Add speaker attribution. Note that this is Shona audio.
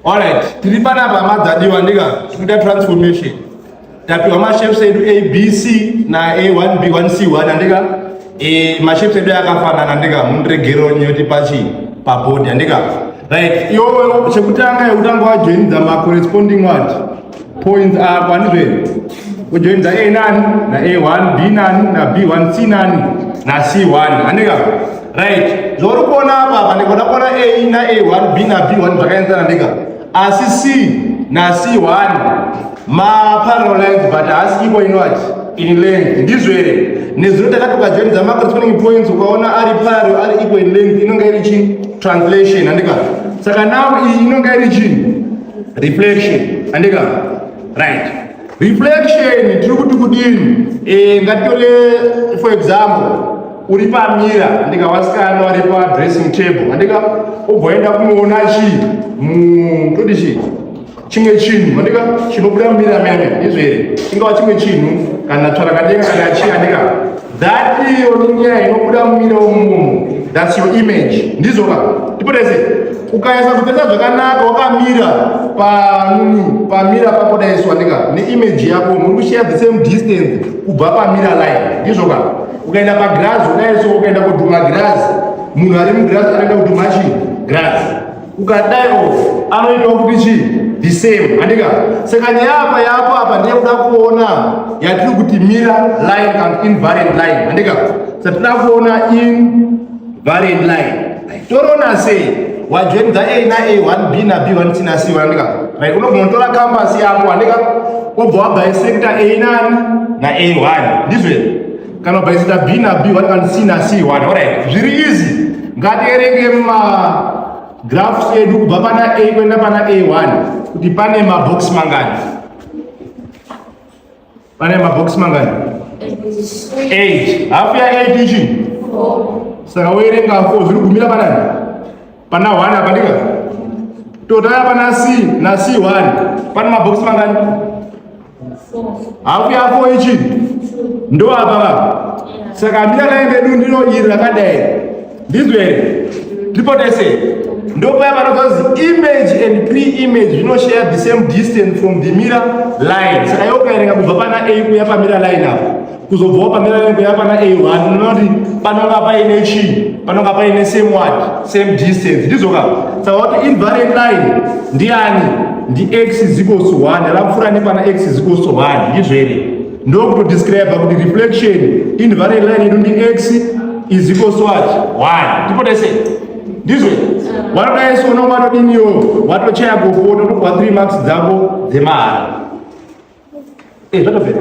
Speaker 1: Alright, tiri panapa madzadiwa ndika tikuita transformation. Tapiwa mashapes edu ABC na A1 B1 C1 andika e mashapes edu akafanana ndika mundiregero nyoti pachi paboard andika. Right, yo chekutanga yekutanga wajoinidza ma corresponding what? Points are kwani zvee. Ujoin za A nani na A1, B nani na B1, C nani na C1. Andika. Right. Zori kuona hapa hapa ndiko ndakona A na A1, B na B1 zvakaenzana ndika. Asi C na C1 ma parallel lines but asi iko inoti in length ndizvo here nezuro takatoka join dza macrosconing points ukaona ari paro ari equal in length inonga iri chini translation andika saka now iyi inonga iri chini reflection andika right reflection tiri kuti kudini e, ngatitore for example uri pamira andika wasikana wari padressing table andika ubvoenda kunoona chii mutodi chii chimwe chinhu andika chinobuda mumira mene izvo here ingava chimwe chinhu kana tsvarakadenga kana chii andika That iyo ninyaya inobuda mumiro umu. That's your image. Ndizo ka. Tipotese. Ukaisa kutenda zvakanaka wakamira panuni pamira pako daiswa ndika ne image yako muri kushare the same distance kubva pamira line. Ndizvo ka. Ukaenda pa grass unayeso ukaenda kuduma grass. Munhu ari mu grass anoenda kuduma chi grass. ukadai off anoitawo kuti chii the same handika saka nyaya apa yapo apa ndiye kuda kuona yatiri kuti mira line and invariant line handika sa tinoda kuona invariant line toroona sei wajoinza a na a one b na b one c na c handika right unogona kutora kambasi yako handika wobva wabhaisecta a nani na a one ndizvei kana by zita b na b one can see na c one alright zviri easy ngatierenge ma graphs edu kubva pana a kuenda pana a1 kuti pane ma box mangani pane ma box mangani 8 half ya 8 ichi saka woerenga 4 zviri gumira panani Pana 1 apa ndika. Total apa na C, na C 1. Pana mabox mangani? Hafu ya 4 ichi. Ndo apa ba. Saka mira kaende du ndiro iri rakadai. Ndizwe. Triple tese. Ndo paya panozozi image and pre-image zvino share the same distance from the mirror line. Saka yokaerenga kubva pana A kuya pa mirror line apo. kuzobvawo pamirairo yapana a1 unoona kuti panonga paine chii panonga paine same word same distance ndizoka saka kuti invariant line ndiani ndi x is equals to 1 rapfuura nepana x is equals to 1 ndizvo here ndokutodescribe kuti reflection invariant line yedu ndi x is equals to what 1 tipotese ndizvo wanoda isu unonga watodiniwo watochaya gopo totokuwa 3 marks dzako dzemahara e eh, zvatopera